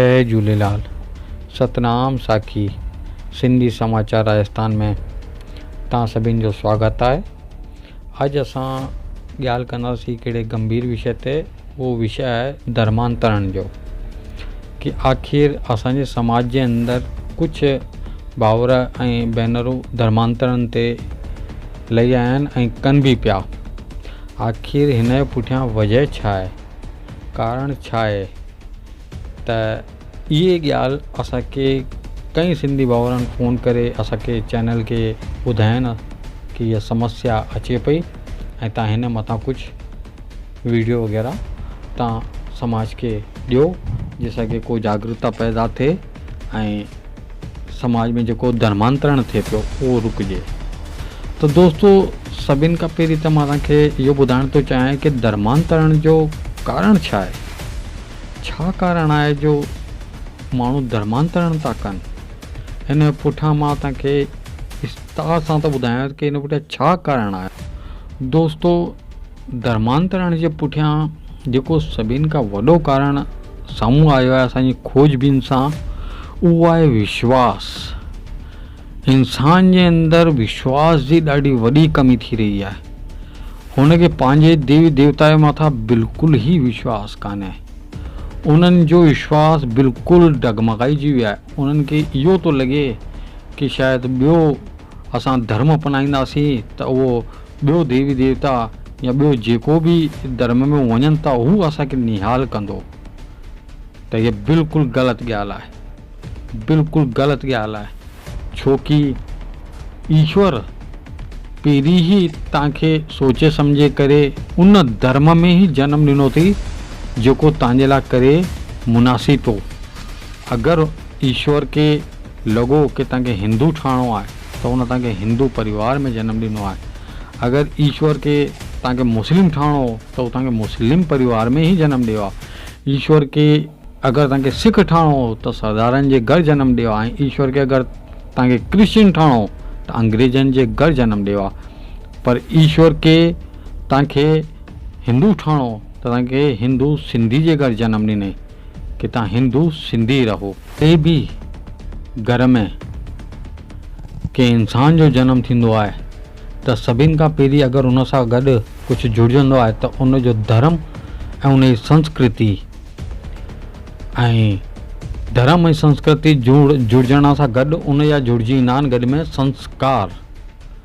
جئي جهوليلال ستنام ساکي سنڌي سماچار راجستان ۾ توهان سڀين جو سواگت آهي اڄ اسان ڳالهه ڪنداسين ڪهڙي گمڀير وشي تي اهو وشي آهي درمان ترڻ جو ڪي آخر اسان جي سماج جي اندر ڪجهه باور ۽ بينرو درمان ترڻ تي لهي آيا آهن ۽ ڪن به پيا. آخر هن جي پٺيان وجهه ڇا آهي؟ ڪارڻ ڇا آهي ته اهي ڳالهه اسان کي ڪئين سنڌي ڀائرن فون ڪري اسان کي چينل کي ٻڌاين ڪي هي سمسيا اچي پئي ۽ تان هن مٿان ڪجهه ويڊيو وغيره تان سماج کي ڏيو جي سان کي ڪو جاگرتا پيدا ٿئي. ۽ سماج ۾ جيڪو ڌرمانترڻ ٿئي پيو اهو رڪجي ته دوستو سڀن کان پهرين ته مان توهان کي اهو ٻڌائڻ ٿو چاهيان ته ڌرمانترڻ جو ڪارڻ ڇا آهي ڇا ڪارڻ آهي جو ماڻهو ڌرمانترڻ ٿا ڪن ان پٺيان مان توهان کي استاد سان ٿو ٻڌايان ته ان پٺيان ڇا ڪارڻ آهي دوستو ڌرمانترڻ جي پٺيان جيڪو سڀني کان وڏو ڪارڻ سامهون آيو آهي اسان جي کوج بين سان اهو آهي وشواس انسان جي اندر وشواس جي ڏاڍي وڏي ڪمي ٿي رهي آهي هن کي پنهنجي ديوي ديوتا جي مٿان بلڪل ئي وشواس ڪانهي انهن جو وشواس بلڪل ڊگمگائجي ويو آهي انهن کي اهو ٿو لڳي ڪي شايد ٻيو اسان ڌرم اپنائينداسين ته اهو ٻيو ديوي ديوتا يا ٻيو جيڪو به ڌرم ۾ وڃن ٿا هو اسان کي نهال ڪندو ته هيء بلڪل غلط ڳالهه آهي بلڪل غلط ڳالهه آهي ڇوڪي ايشور پهرين ئي توهان کي سوچي سمجهي ڪري ان ڌرم ۾ ئي جنم ڏنو اٿئي جيڪو توهان جي لاء ڪري مناسب هو اگر ايشور کي لڳو ڪي توهان کي هندو ٺهڻو آهي ته هن توهان کي هندو پريوار ۾ جنم ڏنو آهي. اگر ايشور کي توهان کي مسلم ٺهڻو هو ته هو توهان کي مسلم پريوار ۾ ئي جنم ڏيو ها. ايشور کي اگر توهان کي سک ٺهڻو هو ته سردارن جي گهر جنم ڏيو ها ۽ ايشور کي اگر توهان کي ڪرسچن ٺهڻو هو ته انگريزن جي گهر جنم ڏيو ها. پر ايشور کي توهان کي هندو ٺهڻو هو ته توهان کي هندو سنڌي جي گهر جنم ڏنئي. ڪٿان هندو سنڌي رهو. ڪنهن به گهر ۾ ڪنهن انسان جو جنم ٿيندو آهي ته سڀين کان پهرين اگر ان سان گڏ ڪجهه جڙجندو آهي ته ان جو ڌرم ۽ ان جي سنسڪرتي ۽ ڌرم ۽ سنسڪرتي جڙجڻ سان گڏ ان جا جڙجي ايندا آهن گڏ ۾ سنسڪار.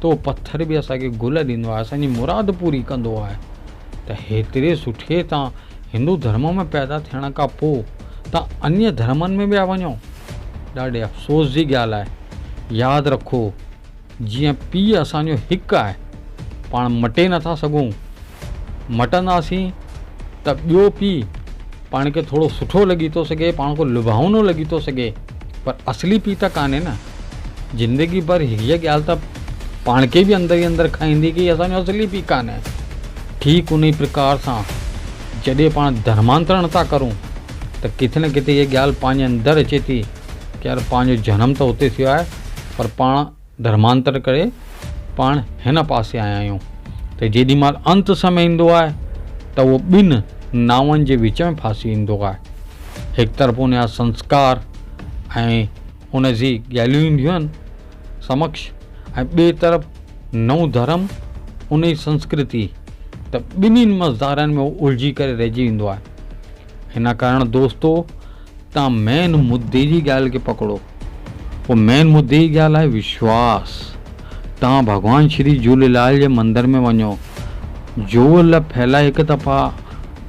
ته اهو پٿر به اسان کي گل ڏيندو آهي اسان جي مراد پوري ڪندو آهي ته هيتري سٺي تان هندو ڌرم ۾ پيدا ٿيڻ کان پوء تان انيء ڌرمن ۾ ويا وڃو ڏاڍي افسوس جي ڳالهه آهي ياد رکو جيئن پيء اسان جو هڪ آهي پاڻ مٽي نٿا سگهون مٽنداسين ته ٻيو پيء پاڻ کي ٿورو سٺو لڳي ٿو سگهي، پاڻ کي لڀائونو لڳي ٿو سگهي، پر اصلي پيء ته ڪانهي نه. زندگي ڀر هيء ڳالهه ته پاڻ کي به اندر ئي اندر کائيندي ڪي اسان جو اصلي پيء ڪانهي. ٺيڪ انهيء پرڪار سان جڏهن پاڻ ڌرمانترڻ ٿا ڪرون ته ڪٿي نه ڪٿي هيء ڳالهه پنهنجي اندر اچي ٿي ڪي يار پنهنجو جنم ته اتي ٿيو آهي پر پاڻ ڌرمانتر ڪري پاڻ هن پاسي آيا آهيون ته جيڏي مهل انت سمي ايندو آهي ته اهو ٻن ناون جي وچ ۾ ڦاسي ويندو آهي. هڪ طرف ان جا سنسڪار ۽ ان جي ڳالهيون اينديون آهن سمڪش ۽ ٻئي طرف نئون ڌرم ان جي سنسڪرتي ته ٻنهين مزدارن ۾ هو الجهي ڪري رهجي ويندو آهي. ان ڪارڻ دوستو تان مين مدي جي ڳالهه کي پڪڙو او مين مدي جي ڳالهه آهي وشواس تان ڀڳوان شري جهوليلال جي مندر ۾ وڃو جوول ڦهلائي هڪ دفعا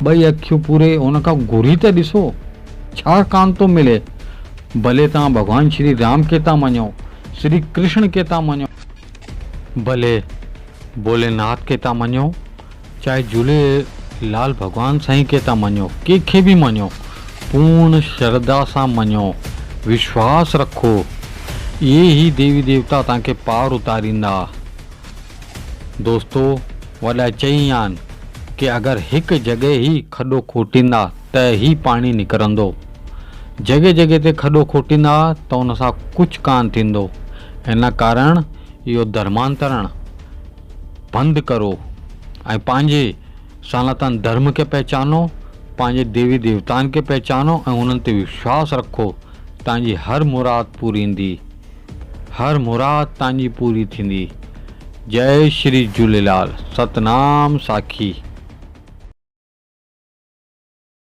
ٻئي اکيون پوري ان کان گهري ته ڏسو ڇا ڪان ٿو ملي ڀلي تان ڀڳوان شري رام کي تان مڃو شري ڪرشڻ کي تان مڃو ڀلي ڀولي ناٿ کي تان مڃو چاهي جهولي لال ڀڳوان سائين کي ٿا مڃيو ڪنهن کي به مڃيو پورڻ شرڌا سان مڃيو وشواس رکو اهي ئي ديوي ديوتا توهان کي پار اتاريندا دوستو وڏا چئي ويا آهن ڪي اگر هڪ جڳهه هي کڏو کوٽيندا ته هي پاڻي نڪرندو جڳهه جڳهه تي کڏو کوٽيندا ته ان سان ڪجهه ڪانه ٿيندو ان ڪارڻ اهو ڌرمانترڻ پنڌ ڪرو ۽ پنهنجي سناتن ڌرم کي پهچانو، پنهنجي ديوي ديوتائن کي پهچانو ۽ انهن تي وشواس رکو، توهان جي هر مراد پوريندي، هر مراد توهان جي پوري ٿيندي. جئي شري جهوليلال. ستنام ساکي.